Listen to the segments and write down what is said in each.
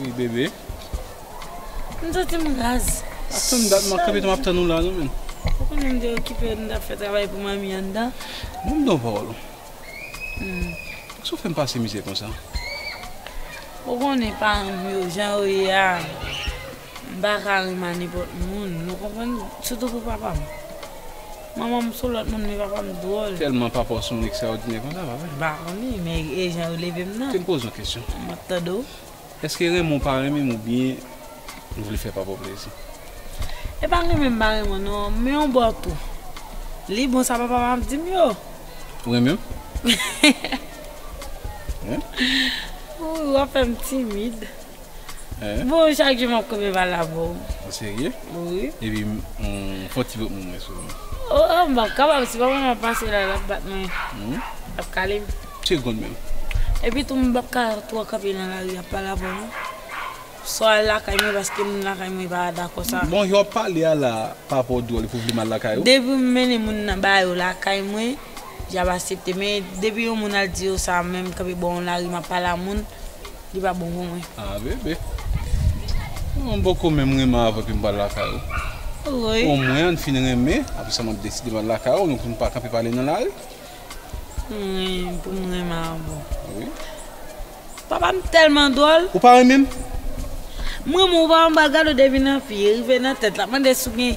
Wi bebe. M santi m raz. Ato m dat manke beton ap tann ou la non men. Ou konnen m te okipe m tap fè travay pou manmi anndan. Bon m don pawòl ou. Pou kisa ou fè m pase mizè konsa? Ou konnen paran m yo jan yo ye a. M pa ka ri ma nenpòt moun, nou konprann, sitou pou papa m. Manman m sou lòt moun men papa m dwòl. Tèlman papa w s on nèg straòdinè konsa, pa vre? M pa konnen, men e jan yo leve m nan. Te m poze w kesyon. M ap tande w. Èske renmen w pa renmen m oubyen ou vle fè papa w plezi? E pa renmen m pa renmen w non, men yon bò tou, li bon sa papa m ap di m yo. Ou renmen m? Ou ri w ap fè m timid. Boo chak jou map kope bal la boo. Ou serye? Wi. Epi fon ti vot moun mwen sou ou. Oh oh map kapab si papa map pase la lap bat mwen. Lap kalem. Segond menm. Epi tou m pap ka twò kanpe nan lari ap pale avèw non. Fò al lakay mwen paske moun lakay mwen pa dakò sa. Bon jan wap pale a la papa w dwòl epi w vle m al lakay ou? Depi m mennen moun nan ba yo lakay mwen yap asepte men depi yon moun al di yo sa menm kanpe bò yon lari map pale a moun. Li pa bon pou mwen. Ah bébé. Mwen poko menm renmen avèw epi m pral lakay ou. Woy. O mwen ann fin renmen apre sa map deside m al lakay ou nou pou nou pa kanpe pale nan lari. Rii pou m renmen avèw. Wi. Papa m tèlman dwòl. Ou pa renmen m? M renmen w pa m pa gade w depi nan figi rive nan tèt lap mande si w gen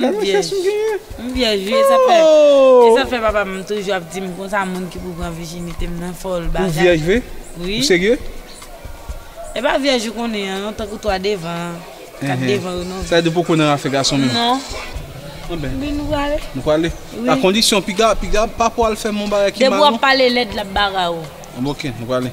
Gade yon chans ou genyen. M vyèj wi e sa fè papa m toujou ap di m konsa moun ki pou pran vijinite m nan fòl bagay. Ou vyèj vre? Ou serye? E pa vyèj ou konnen an non tankou 3 devan an. 4 devan yo non. Sa vle di ou poko nan afè gason menm? Non. Anben. Bin nou prale? Nou prale? Wi. A kondisyon piga piga pa pou al fè m yon bagay ki mal non. Depi w ap pale lèd l ap bare w. Anben ok nou prale.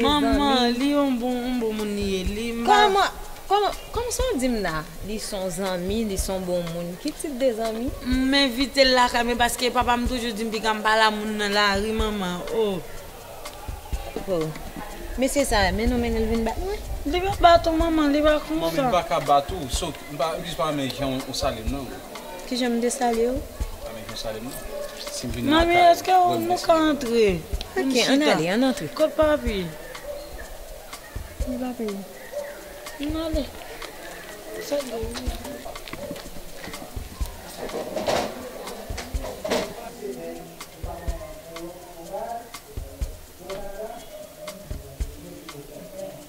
Manman li yon bon moun li ye li pa. Kòman sa w di m la li s on zanmi li s on bon moun ki tip de zanmi. M envite l lakay mwen paske papa m toujou di m piga m pa la moun nan lari manman oh. Ho mesye sa men nou mennen l vin bat mwen. Li pa bat ou manman li pa konsa. Manmi m paka bat ou so m pa use pa renmen jan w sale m nan. Kijan m te salye ou? Manmi, èske nou ka antre? Ok, ann ale, ann antre. Kot papi? Ni papi ou? Ann ale.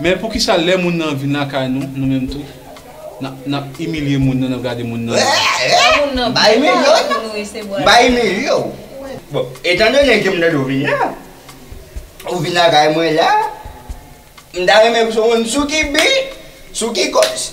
Men poukisa lè moun nan vin lakay nou, nou menm tou, n ap imilye moun nan, n ap gade moun nan mal? Ba imilye w. Bon, etandone ke m tande w vin la, ou vin lakay mwen la, m ta renmen pou w di m sou ki bi, sou ki kòz?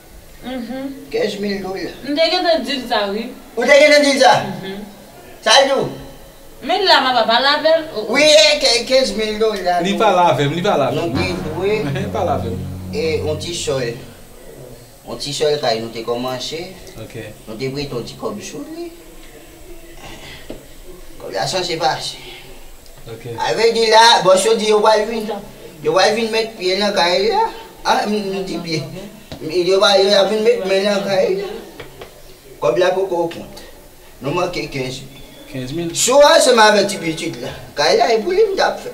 15 mil dola. M te gentan dil sa wi. Ou te gentan dil sa? Sa l di w? Men la papa pale avè l. Wi e 15 mil dola. Li pale avè m, li pale avè m. Nou te dwe. Li pale avè m. E yon ti sòl. Yon ti sòl kay nou te kòmanse. Ok. Nou te prete yon ti kòb sou li. Kob la sanse pase. Ok. Ave di la bòs yo di yo pral vin yo pral vin met pye nan kay la. Ah m di pye. Yo pa yo ap vin met men nan kay la. Kob la poko kont. Nou manke 15 mil. 15 mil? Sou ansanm avè ti pitit la. Kay la e pou li m tap fè.